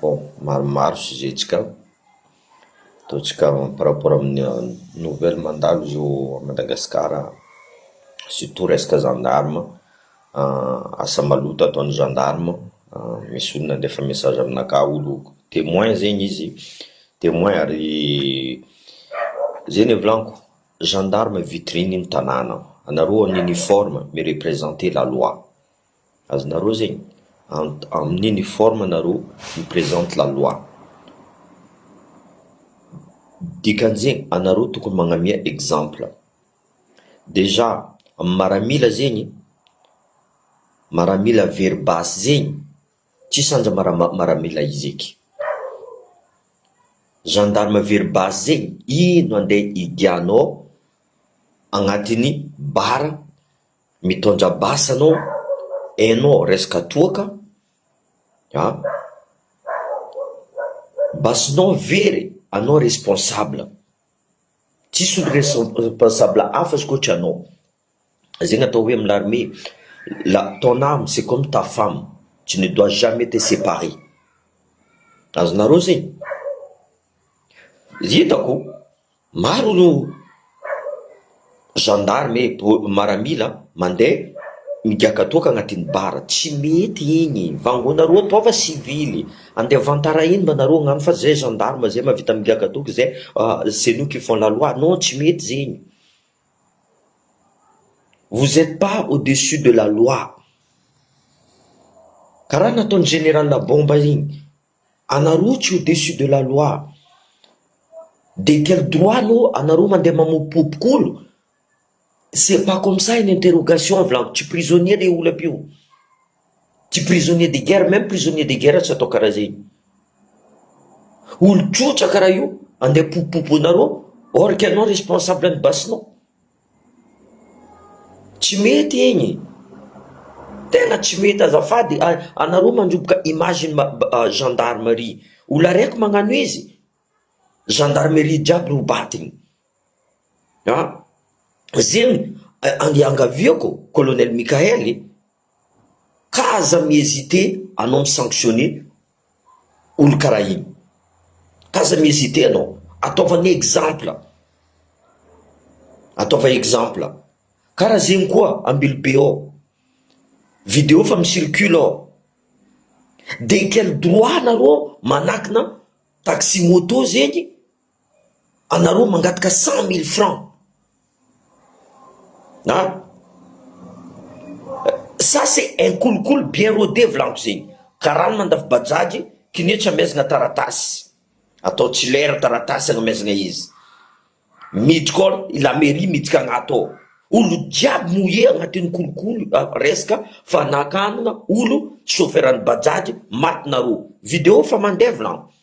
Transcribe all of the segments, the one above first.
Bon, maromaro sujet ntsika ao, ataontsika par rapport amin'ny nouvelle mandalo izy io à Madagascar, surtout resaka gendarme, asa maloto ataon'ny gendarme, misy olo nandefa message aminakahy olo témoin zegny izy, témoin ary zegny le volaniko, gendarme vitrine ny tanàna, anareo en uniforme mi-representer la loi. Azonareo zegny ant amin'ny ny forme nareo ny presente la loi. Dikan'izegny anareo tokony magnamia exemple. Déjà amin'ny maramila zegny, maramila very basy zegny tsisy anja mara- maramila hizeky. Gendarme very basy zegny ino andeha higianao agnatin'ny bar Mitondra basy anao enao resaka toaka a! Basinao very anao responsable tsisy olo responsable hafa izy koa tsy anao zegny atao hoe amin'ny armée la ton ame c'est comme ta femme tu ne dois jamais te separe azonareo zegny? Hitako. Maro no gendarme maramila mandeha migiaka toaka agnatin'ny bar, tsy mety igny, vangonareo atao fa sivily, andeha avantaraigno mba nareo agnagno fa zay gendarme zay mahavita migiaka toky zay c'est nous qui font la loi, non tsy mety zegny, vous etes pas au dessus de la loi, karaha nataon'i general bomba igny. Anareo tsy au dessus de la loi. De quel droit no anareo mandeha mamopopoko olo? C'est pas comme ça une interrogation avy lava, tsy prisonnier le olo aby io, tsy prisonnier de guerre, même prisonnier de guerre tsy atao karaha zegny, olo trotraka raha io andeha popopopo anareo or que anao responsable ny basenao. Tsy mety igny e! Tena tsy mety azafady e! Anareo mandroboka image ny gendarmerie, olona raiky magnano izy, gendarmerie jiaby no badiny an! zegny andeha angaviako colonel Mickael e! Ka aza mi hesite anao mi sanctionne olo karaha iny. Ka aza mi hesite anao. Ataova ny exemple. Ataova exemple. Karaha zegny koa Ambilobe ao. Video efa mi circule ao. De quel droit nareo manakina taxi moto zegny. anareo mangataka cent mille franc a, ça c'est un kolikoly bien rode volagno zegny, karana mandafo bajaj, kiné tsy amezagna taratasy, atao tsy lera taratasy agnamezagna izy, miditra koa i la mairie miditra agnaty ao, olo jiaby mouillé agnatin'ny kolikoly resaka fanakanana olo chauffeur an'ny bajaj maty nareo, video efa mandeha volagno.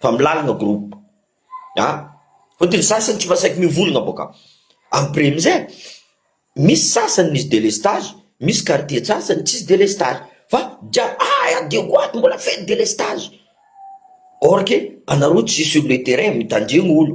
fa milalagna groupe ah fôtony ny sasany tsy masaky mivolagna bôka après amizay misy sasany misy delestage misy quartier tsasany tsisy delestage fa jiaby aah adio ko ato mbola feno delestage or que anareo tsy sur le terrain mitandregny olo.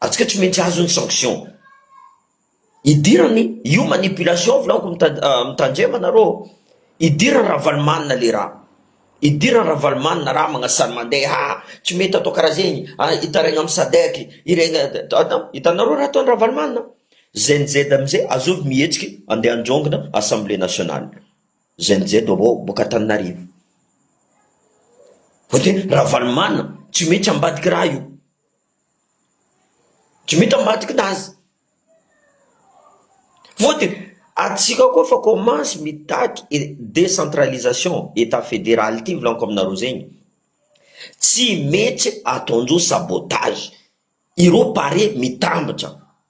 Atsika tsy maintsy azony sanction. Idirany io manipulation volaoko mitandrema nareo ô. Idirany Ravalomanana le raha. Idirany Ravalomanana raha magnasany mande ha tsy mety atao karaha zegny a hitaraigna am sadec iregny hitanareo raha ataony Ravalomanana znz amizay azovy mihetsiky ande androngona assemblée nationale znz avao boka Antananarivo fa de Ravalomanana tsy maintsy ambadiky raha io. Djmita ambadika ny azy. Vao dia antsika koa fa kômansy mitaky décentralisation état fédéral ity volaniko aminareo zay e, tsy mety ataon'ireo sabotage, ireo pare mitambatra.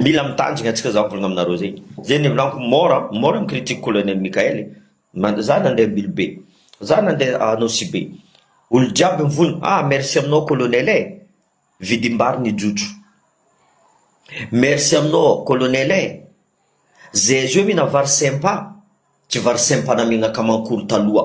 Mila mitanjigna antsika za mivolagna aminareo zegny, zegny nivolanko mora mora mi-critique colonel Mickaël e, za nande Ambilobe, za nande Anosibe, olo jiaby mivola, ah merci aminao colonel e, vidim-bary nijotso, merci aminao colonel e, zay zao mihina vary simpa, tsy vary simpa namegna kamankolo taloha.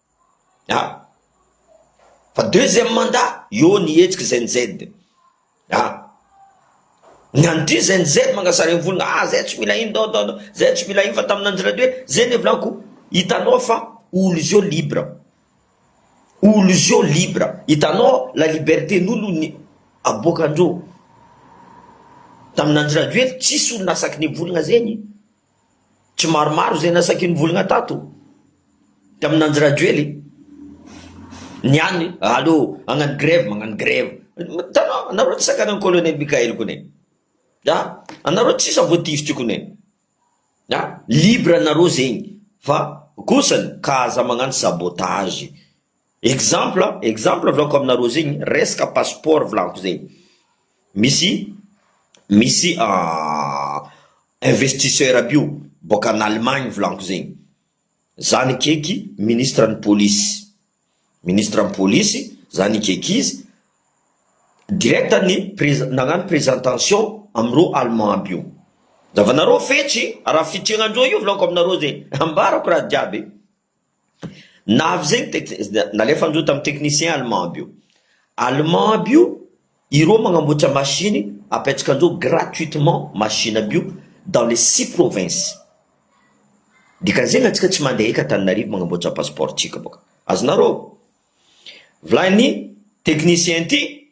ah fa deuxième mandat eo ny hetsiky zen z ah ny an'ity zen z mangasary ny volona ah zay tsy mila iny dao dao dao zay tsy mila iny fa tamin'ny Andry Rajoelina hoe zay ny hevilaniko hitanao fa olo izy io libre olo izy io libre hitanao la liberté n'olo ny aboakandreo tamin'ny Andry Rajoelina tsisy olo nasaky ny volona zegny Tsy maromaro izay nasaky ny volgna tato tamin Andry Rajoely e! Ny any aleo hagnano grève magnano grève, hitanao anareo tsy sakana an'i Colonel Mickael kony e! a! anareo tsisa voatifitry kony e! a! libre anareo zegny fa kosany ka aza magnano sabotage Exemple exemple volako aminareo zegny resaka passeport volako zegny misy misy investisseur aby io boaka any Allemagne volako zegny zany akeky ministre ny polisy ministre ny polisy zany akeky izy direct ny prez- nagnano presentation amireo allemand aby io zavanareo fetsy raha fitrignandreo io volako aminareo zegny ambarako raha jiaby. Na avy izay ny tec- nalefany ireo tamin'ny technicien allemand aby io. Allemand aby io, ireo magnamboatra machine apetraka an'ireo gratuitement machine aby io dans les six provinces. Dikan'izegny antsika tsy mandeha eky Antananarivo magnamboatra passeport-tsika boka. Azonareo? Volanin'ny technicien ty.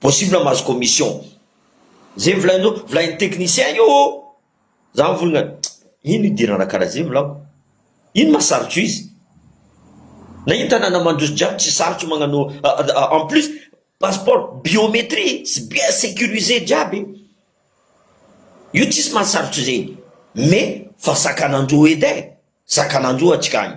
possible mahazo commission ze volainao volain'ny technicien io ô za mivolagna ino idirana karaha ze volako ino ma sarotro izy na ino tanàna mandroso jiaby tsy sarotro magnano en plus passeport biométrie sy bien sécurisé jiaby io tsisy mahasarotro zegny mais fa sakanandroa edy e sakanandroa atsika agny.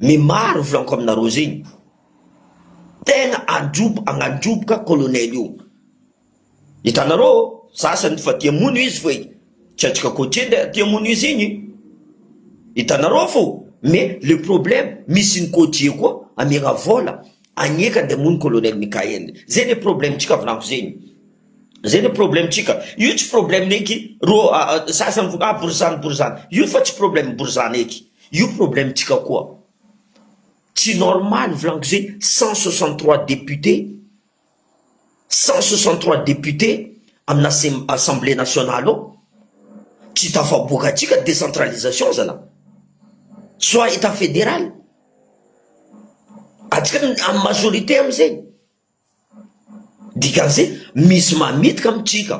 Me maro volanko aminareo zegny tegna androbo agnandroboka colonel io hitanareo ô sasany fa tia mono izy fa tsy antsika koa tia ndray tia mono izy igny hitanareo fô me le problème misy ny côtier koa amiagna vôla agneka ndeha amono colonel Mickael zay le problème tsika volanko zegny. Zay le problème tsika. Io tsy problème neky ro sasany vo ah borizano borizano. Io fa tsy problème borizano eky. Io problème tsika koa. Tsy normal volagno ze cent soixante trois député cent soixante trois député amina sem- assemblée nationale ao tsy tafaboaka tsika décentralisation zala. Soit etat fédéral. Atsika am majorité amzegny. Dikan'izay, misy mametka amin'ny trika.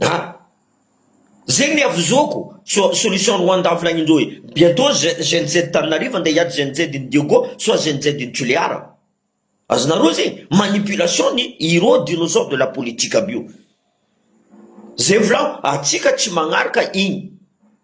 Ah! Zegny ny havozoako, soit solution Rwanda avy nagnindreo hoe bientôt gen z tanin'arivo andeha hiady gen z ny diego soit gen z ny tulear. Azonareo zegny? Manipulation ny hero dinosaure de la politique aby io. Zay volagno, antsika tsy magnaraka igny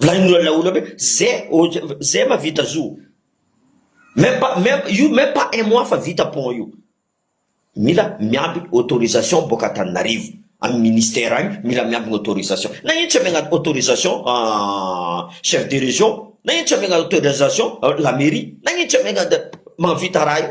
Volanin'ny olona olona hoe zay ô zay ma vita zo o. Même pas même io même pas un mois fa vita pont io. Mila miambigny autorisation boaka Antananarivo am ministère agny mila miambigny autorisation. Nagnino tsy amiagna autorisation chef de région, nagnino tsy amiagna autorisation la mairie, nagnino tsy amiagna mahavita raha io.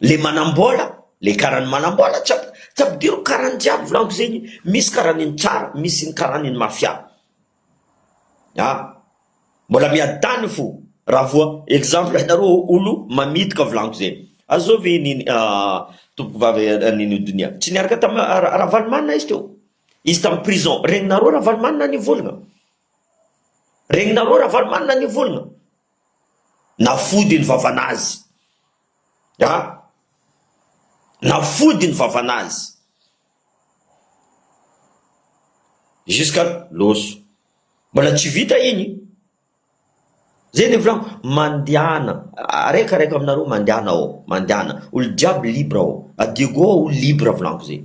le manambola le karany manambola tsy tsy ampidiriko karany jiaby volaniko zegny misy karany ny tsara misy ny karany ny mafia a mbola miadany fo raha vao exemple anareo olo mamitaka volaniko zegny azao ve ny tompoko vavy nini donia tsy niaraka tamy ravalomanana izy teo izy tamy prison regninareo ravalomanana nivolagna regninareo ravalomanana nivolagna Na fody ny vavan'azy an! Na fody ny vavan'azy! Jusqu'à loso. Mbola tsy vita iny. Zay le volagno, mandehana, araiky araiky aminareo mandehana ao, mandehana, olo jiaby libre ao, à Diego ao olo libre volagno zay.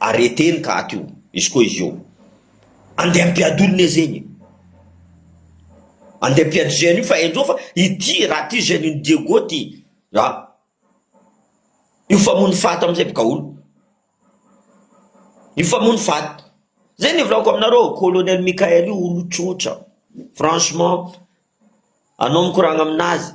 Arrêter ny cas teo. Izy koa izy io. Andeha hampiady olona izy eny e. Andeha hampiady jeune io fa henjeo fa ity raha ity jeune iny Diego ity a. Io famono fat amizay boka aolo. Io famono fat. Zay ny volako aminareo colonel Mickael io olo tsotra. Franchement anao mikoragna aminazy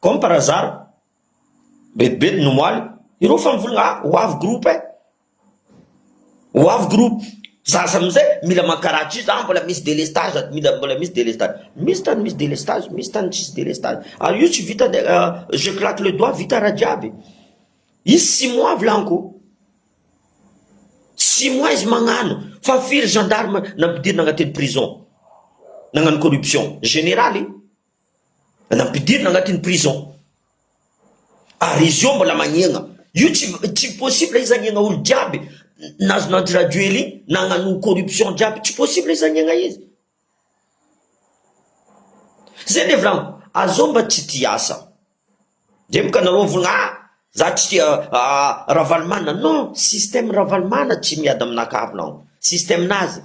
Comme par hasard, betibety no omaly, ireo fa mivolagna ah! ho avy groupe eh! ho avy groupe, za samy izay mila mankaratry za mbola misy délestage aty, mila mbola misy délestage, misy tany misy délestage, misy tany tsisy délestage, ary io tsy vita nde je claque le doigt vita raha jiaby, izy six mois avy laniko, six mois izy magnano fa firy gendarme nampidirina agnatiny prison nagnano corruption, généraly. Nampidirina agnatin'ny prison. Ary izy eo mbola magnegna. Io tsy tsy possible izy agnegna olo jiaby nazona Andry Rajoely igny nagnano corruption jiaby tsy possible izy agnegna izy. Zay le vlam, azao mba tsy tia asa. Dremoka nareo vola ah! Za tsy tia Ravalomanana non! Système Ravalomanana tsy miady amina kavy non! Système nazy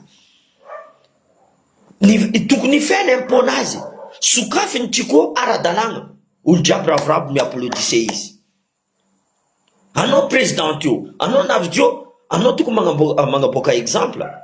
ny tokony hifehy ny impôt nazy! Sokafy ny Chico ara-dalàna! Olo jiaby ravoravo mi applaudissez izy! Anao président io! Anao navidio! Anao tokony manaboaka exemple!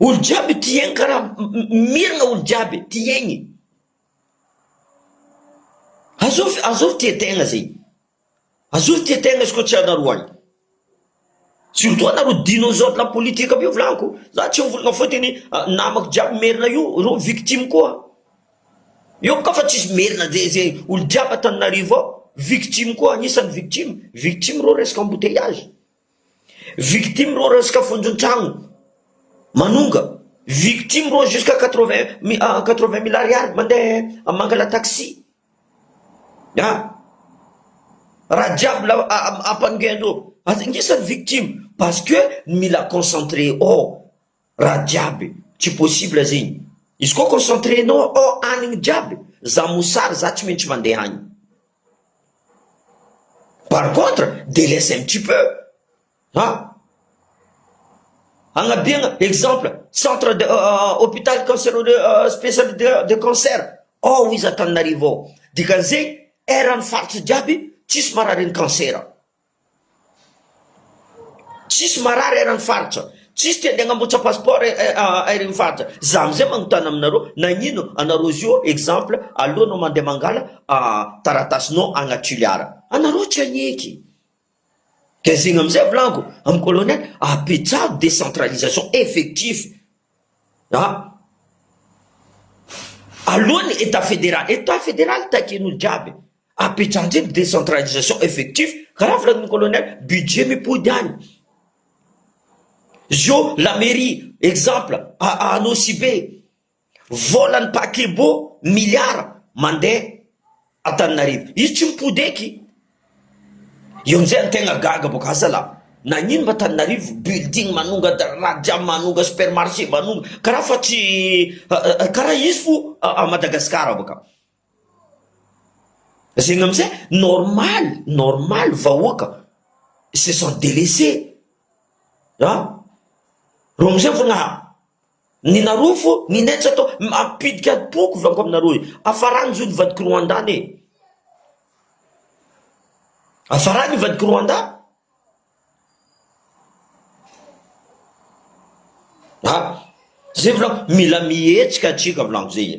Olo jiaby tia aigny karaha miragna olo jiaby tia aigny azovy azovy tia tegna zegny azovy tia tegna izy koa tsy anareo agny surtout anareo dinosaures la politique aby io volagako za tsy mivolagna foty ny namako jiaby merina io reo victime koa eo ka fa tsisy merina ze ze olo jiaby antananarivo ao victime koa agnisany victime victime reo resaka embouteillage. Victime reo resaka fonjon-tragno manonga, victime reo jusqu'à quatre-vingt quatre-vingt mille ariary mandeha mangala taxi ah! raha jiaby la ampanongeandreo, aza ingisany victime parce que mila concentré ao. Raha jiaby tsy possible zegny. Izy koa concentré nao ao anigny jiaby, za mosary za tsy maintsy mandeha agny. Par contre, delaisse un petit peu a! Agnabiagna exemple, centre de hôpital canceroleux spécialité de cancer ao izy Antananarivo ao, dikan'izegny eran'ny faritra jiaby tsisy mararin'ny kansera. Tsisy marary eran'ny faritra, tsisy te handeha hanambotsa passeport eran'ny faritra, za amizay magnotana aminareo nagnino anareo izy io exemple alohanao mandeha mangala taratasinao agny à Toliara anareo tsy agneky de zegny amizay volango amin'ny colonel apetraho décentralisation effectif a alohan'ny etat federal, etat federal takian'olo jiaby Apetraha ndray ny décentralisation effectif karaha filaton'ny colonel, budget mipody any. Zio la mairie exemple a Anosibe, volan'ny paquebot milliard mandeha Antananarivo. Izy tsy mipody eky. Eo amzay ny tegna gaga boka asa la nagnino ma Antananarivo building manonga da radiam manonga supermarché manonga karaha fa tsy karaha izy fo a Madagascar boka. Zegny amizay normaly normaly vahoaka se sont delaisser a reo amizay vao naha ny nareo fô ny nay tsy atao mampidika atoko avy akao aminareo e afarany zao ny vadiko Rwanda any e afarany ny vadiko Rwanda a zay volako mila mihetsika atsika volako zay e.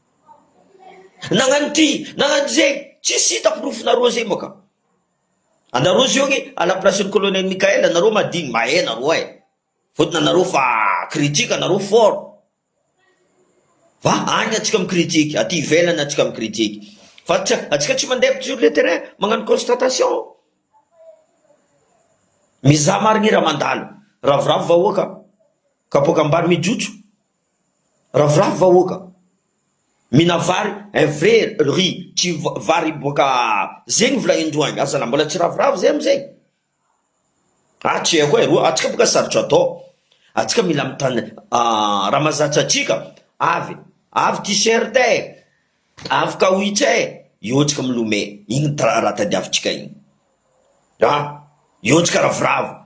Nagnano ity, nagnano izay, tsisy hita porofonà Roger moa ka. Anareo zio anie à la place ny colonel Mickaël anareo madiny mahé nareo eh. Fotony anareo fa critique anareo fort. Fa agny atsika mi critique, aty ivelany atsika mi critique. Fa tsy atsika tsy mandeha sur le terrain magnano constatation. Mizaha marigny raha mandalo. Ravoravo vahoaka, kapoaka ambany mijotso. Ravoravo vahoaka, mina vary un vrai riz tsy vary boaka zegny volahin-droa agny, aza nambola tsy ravoravo zay amizay, ah tsy haiko eh, roa antsika boka sarotro atao, antsika mila mitandr raha mazatra antsika, avy avy t-shirt eh, avy kawitch eh, eo antsika milome, igny raha tadiavintsika igny, ah eo antsika ravoravo.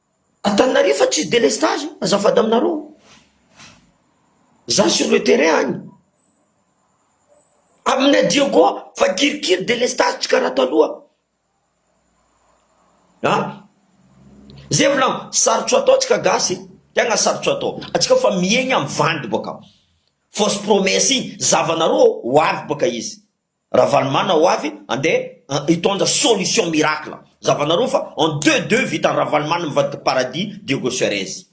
Antananarivo fa tsisy délestage azafady aminareo za sur le terrain any aminay Diego fa kirikiry délestage tsy karaha taloha a zay volagno sarotro atao tsika gasy tegna sarotro atao atsika fa miaigna am vandy boka fausse promesse igny zavanareo ho avy boka izy Ravalomana ho avy andeha hitondra solution miracle zavanareo fa en deux deux vitan'i Ravalomana mivadika paradis Diego Suarez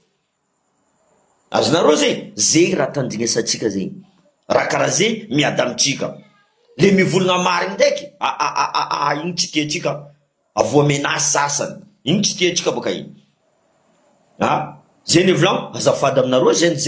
azonareo zay zay raha tandrinesantsika zay raha karaha zay miada amintsika le mivolagna marigny ndraiky aahahahah igny tsy tiantsika avoa menace sasany igny tsy tiantsika baka igny a zay le volagno azafady aminareo gnz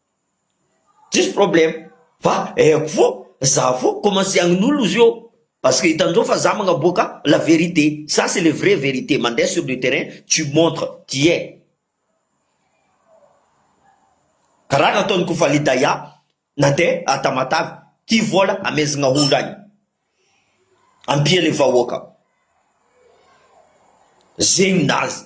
Tsisy problème fa aiko fo za fo commence hagnolo izy io parce que hitanjao fa za magnaboaka la vérité ça c'est le vrai vérité mandeha sur le terrain tu montre tu es karaha nataon'i Kofalidaya nandeha Tamatave tia vola amezagna olo agny ampia le vahoaka zegny nazy.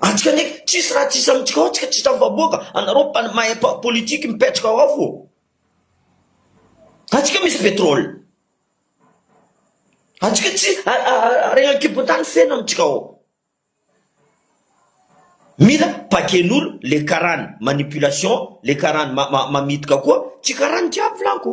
Antsika nge tsisy raha tsisy amintsika ao tsika tsisy vahoaka anareo mahay politique mipetraka ao fo antsika misy petrole antsika tsy harena ankibon-tany feno amintsika ao mila paken'olo le karany manipulation le karany mamitika koa tsy karany jiaby laniko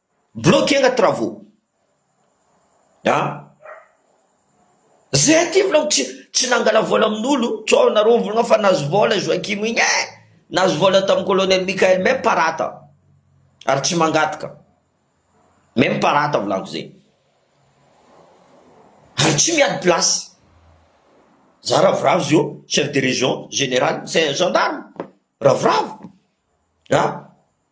Bloquer nga travaux a! Zay aty volako tsy tsy nangala vola amin'olo sao nareo mivolagna fa nazo vola Joachim igny eh! Nazo vola tam colonel Mickael même pas rata ary tsy mangataka même pas rata volako zay ary tsy miady place za ravoravo zio chef de region, general, gendarme ravoravo a!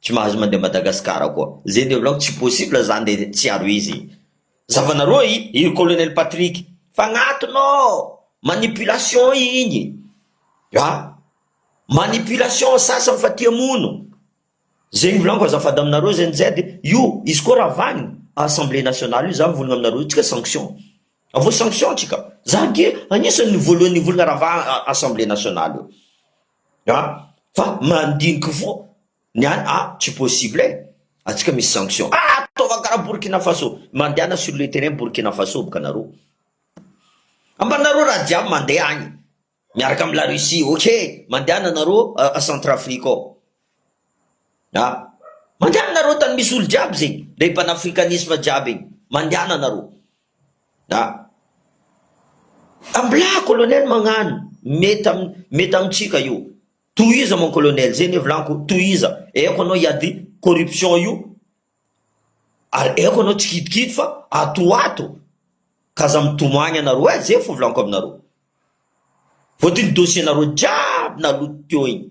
Tsy mahazo mandeha Madagascar koa. Zay de volañiko tsy possible zany de tsy aro izy. Zavanareo i i colonel Patrick fagnatona oo manipulation igny a! Manipulation ny sasany fa ty hamono. Zegny volañiko azafady aminareo zay nz io izy koa raha vagny assemblée nationale io za mivolagna aminareo io tsika sanction avao sanction tsika za ge agnisany ny voalohany nivolagna raha va assemblée nationale io. a fa mandiniky fo ny any a tsy possible e atsika misy sanction a ataova karaha Burkina Faso mandehana sur le terrain Burkina Faso boka nareo amba nareo raha jiaby mandeha agny miaraka am la Russie ok mandehana nareo a centre Afrique ao a mandehana nareo tany misy olo jiaby zegny le panafricanisme jiaby igny mandehana nareo Mblaa colonel magnano mety mety amintsika io tohiza mon colonel zay ny hevilaniko tohiza aiko anao hiady corruption io ary aiko anao tsy kidikidy fa ato ho ato ka aza mitomany ianareo eh zay fo volako aminareo voadio ny dossier nareo jiaby naloto teo iny.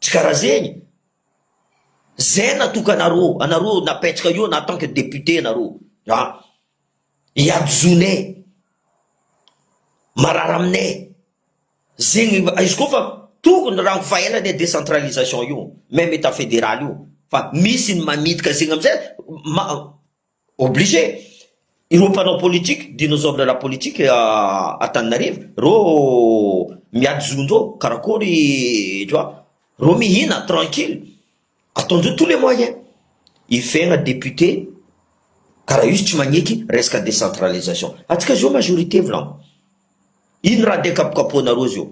Tsy karaha zegny. Zay natoka anareo, anareo napetraka eo na tant que député anareo a! Iadizoanay, marary aminay zegny mba, izy koa fa tokony raha fa ela anie décentralisation io, même état fédéral io fa misy ny mamitaka zegny amizay ma. Obligé ireo mpanao politique, dinosaures de la politique à Antananarivo, reo miady zony reo, karakory tu vois, reo mihina tranquille, ataondreo tous les moyens hivegna député karaha io izy tsy magneky resaka décentralisation, atsika zao majorité volagno, ino raha ndeha kapokapohanareo zao,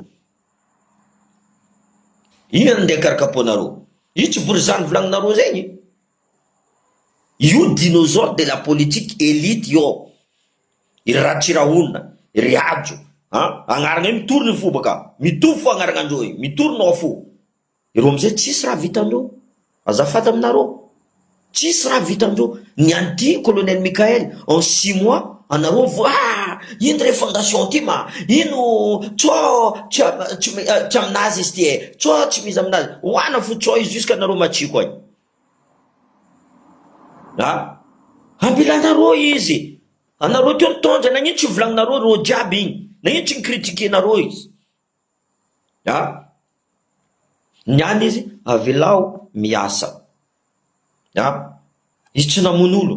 ino ndeha karakapohanareo, io tsy borizano volagninareo zegny. Io dinosaure de la politique elite io ao, ry Ratsirahonina, ry Hajo an! Agnarana io mitory ny fo baka, mitovy fo agnaragnandreo io, mitory nao fo, ireo amizay tsisy raha vitandreo, azafady aminareo, tsisy raha vitandreo, ny an'ity Colonel Mickaël en six mois anareo vo aa, ino refondation tim a, ino tso tsy aminazy izy ty e, tso tsy miza aminazy, oana fo tso io jusqu'à nareo matsiko any. Ambilana rô izy e! Anareo teo nitondra, nagnino tsy volagninareo rô jiaby igny? Nagnino tsy ni-critiquer-nareo izy? Aa! Niala izy, avelao miasa. Aa! Izy tsy namono olo.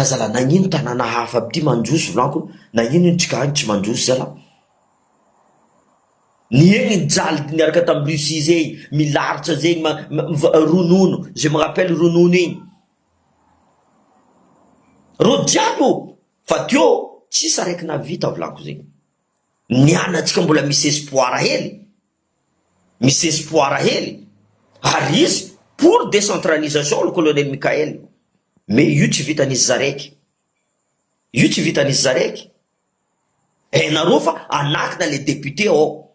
Aza lah nagnino tanàna hafa aby ty mandroso volako nagnino iny trika any tsy mandroso zalah niegny nijaly niaraka tam Russie zegny milaritsa zegny ma ronono je me rappelle ronono igny reo jiaby ô fa teo tsisy araiky nahavita volako zegny nianatsika mbola misy espoir hely Misy espoir hely ary izy pour décentralisation le colonel Mickaël mais io tsy vitan'izy zaraiky io tsy vitan'izy zaraiky eh nareo fa anakina le député ao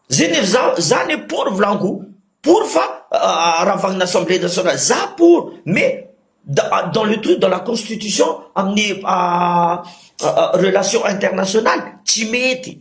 zay nefa za za ne pour volanko pour fa aravagnina assemblée nationale za pour mais dans le truc dans la constitution amin'ny relation internationale tsy mety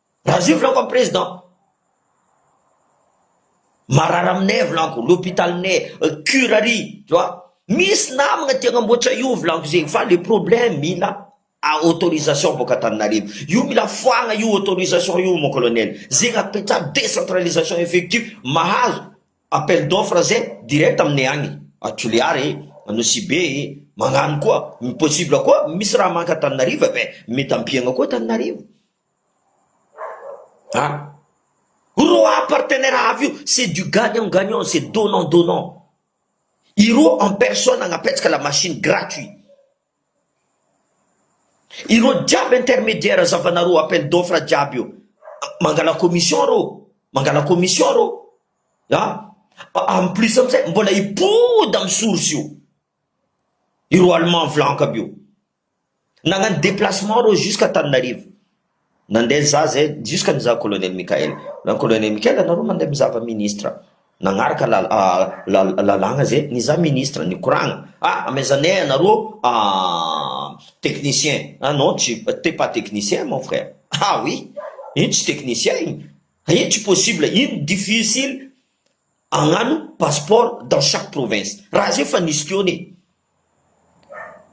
Raha zio volagniko am président. Marary aminay volagniko, l'hôpitalinay, cure ary tu vois. Misy namagna te hagnamboatra io volagniko zegny fa le problème mila autorisation bôka Antananarivo. Io mila foagna io autorisation io mon colonel. Zegny apetraha décentralisation effective mahazo appel d'offre zay direct aminay agny à Toliara e, à Nosy Be e, magnano koa, possible koa misy raha manque Antananarivo eh ben mety ampiagna koa Antananarivo. Roa partenaires avy io, c'est du gagnant gagnant, c'est donnant donnant, i roa en personne hanapetsaka la machine gratuit, ireo jiaby intermediaire zavanareo appel d'offre jiaby io mangala commission reo, mangala commission reo an! en plus amizay mbola hipody amin'ny source io ireo allemand vlank aby io. Nagnano déplacement reo jusqu'à Antananarivo. Nandeha za zay jusqu'à ny za colonel Mickaël. Za colonel Mickaël anareo mandeha mizava ministre. Nagnaraka la- la- lalàgna zay ny za ministre nikoragna. Ah amezanay anareo technicien. Ah non tu t'es pas technicien mon frère. Ah oui! Ino tsy technicien ino? Ino tsy possible? Ino difficile hagnano passeport dans chaque province? Raha zay efa nisy teo anie.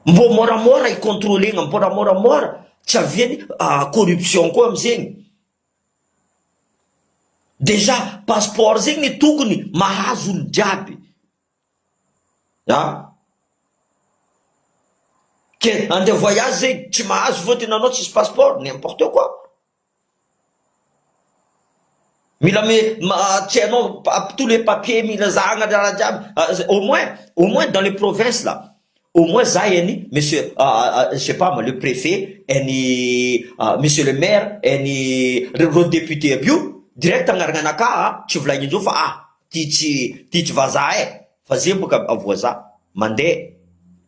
Mbô môramôra i contrôlegna, mbôla môramôra, tsy aviany corruption koa amzegny. Déjà passeport zegny tokony mahazo olo jiaby a! Ke andeha voyage zegny tsy mahazo fôtiny anao tsisy passeport? N'importe quoi. Mila me, ma, tsy hainao ap tous les papiers mila zahagna raha jiaby a zay au moins au moins dans les provinces là au moins za any monsieur a a je sais pas moi le préfet any a monsieur le maire any re reo députés aby io direct agnaragna anakah a tsy volaigny indreo fa ah ty tsy ty tsy vazaha eh fa ze boka avoazaha mandeha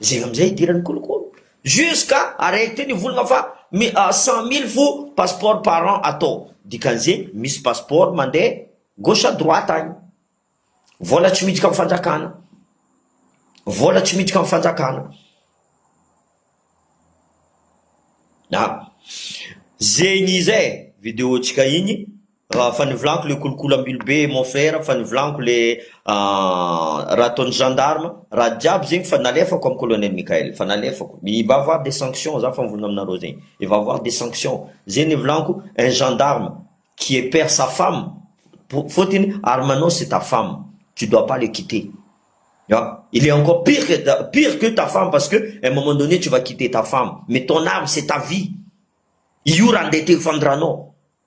Zegny amizay idirany kolokolo jusqu'à arrête ny volagna fa mi cent mille fo passeport par an atao dikan'izegny misy passeport mande gauche à droite agny vola tsy miditra am fanjakana vola tsy miditra am fanjakana a zegny izy e video tsika igny Raha fa nivolanko le kolokolo ambilo be mon frère fa nivolanko le raha ataon'ny gendarme raha jiaby zegny fa nalefako am colonel Mickaël fa nalefako il va avoir des sanctions za fa mivonona aminareo zegny il va avoir des sanctions ze nivolanko un gendarme qui est père sa femme fôtiny arme anao c'est ta femme tu dois pas le quitter ah il est encore pire que ta pire que ta femme parce que un moment donné tu va quitter ta femme mais ton arme c'est ta vie io raha ndeha te ho fandranao.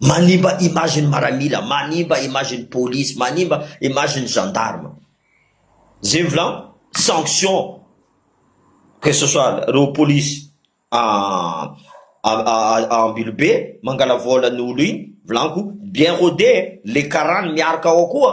Manimba image ny maramila, manimba image ny police, manimba image ny gendarme. Zay ny volagno, sanction que ce soit reo police a Ambilobe mangala vola ny olo iny, volagno ko bien rôde e, le karany miarka ao koa.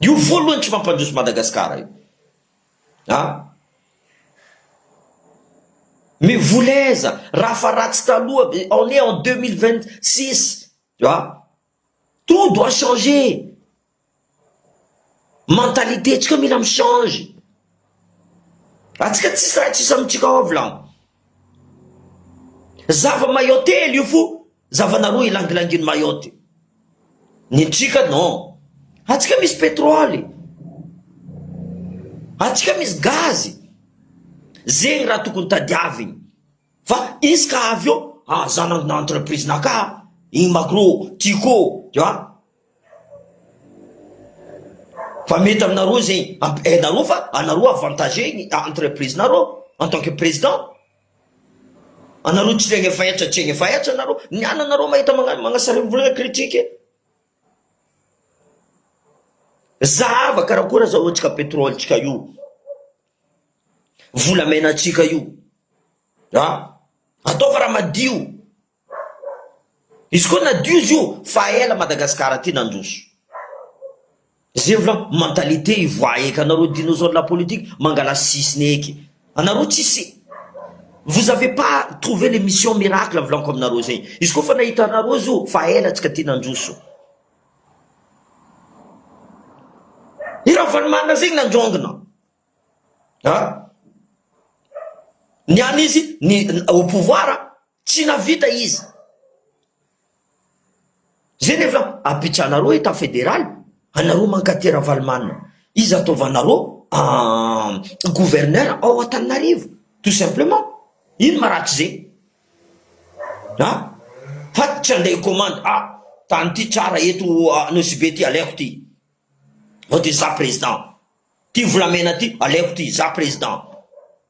Io voalohany tsy mampandroso Madagascar io a! Mais volaiza raha fa ratsy taloha on est en deux mille vingt six a! Tout doit changer, mentalité tsika mila mi change, atsika tsisy raha tsisy amitsika ao avy lan! Zava maillot telo io fo Zavana roa ilangilangin'i Mayotte. Ny trika non. Antsika misy petroly. Antsika misy gazy. Zegny raha tokony tadiavigny. Fa izy ka avy eo, ah za nanana entreprise naka, igny magro, tiko, tu vois. Fa mety aminareo zegny, hainareo fa anareo avantagé ny entreprise nareo en tant que président. Anareo tsy regny efa hetsa tsy egny efa hetsa nareo ny ana nareo mahita magnano magnasarimbolagna critique zahava karakôry zao antsika petrole tsika io volamena tsika io a ataova raha madio Izy koa nadio izy io fa ela Madagascar ty nandroso. Zay vla mentalité ivoaha eky anareo dinosaure la politique mangala sisiny eky anareo tsisy vous avez pas trouver le mission miracle volako aminareo zay izy koa fa nahita anareo izy io fa ela tsika ty nandroso. I Ravalomanana zegny nandrongona a! Niany izy ni au pouvoir Tsy navita izy zay nefa apitrahanareo etat federal anareo mankate ravalomanana iza ataovanareo gouverneur ao antananarivo tout simplement ino maratrizay a fa tsy andeha commande a tany ty tsara eto nosibe ty aleko ty vao ty za président ty volamena ty aleko ty za président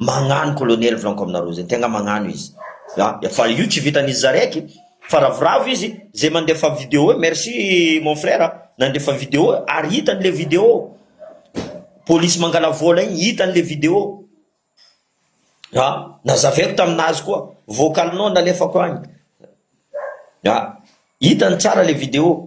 Magnano colonel franco aminareo zay tegna magnano izy a fa io tsy vitan'izy zaraiky fa ravoravo izy zay mandefa video e merci mon frère nandefa video ary hitany le video polisy mangala vola igny hitany le video a nazavaiko taminazy koa voakalinao nalefako agny a hitany tsara le video.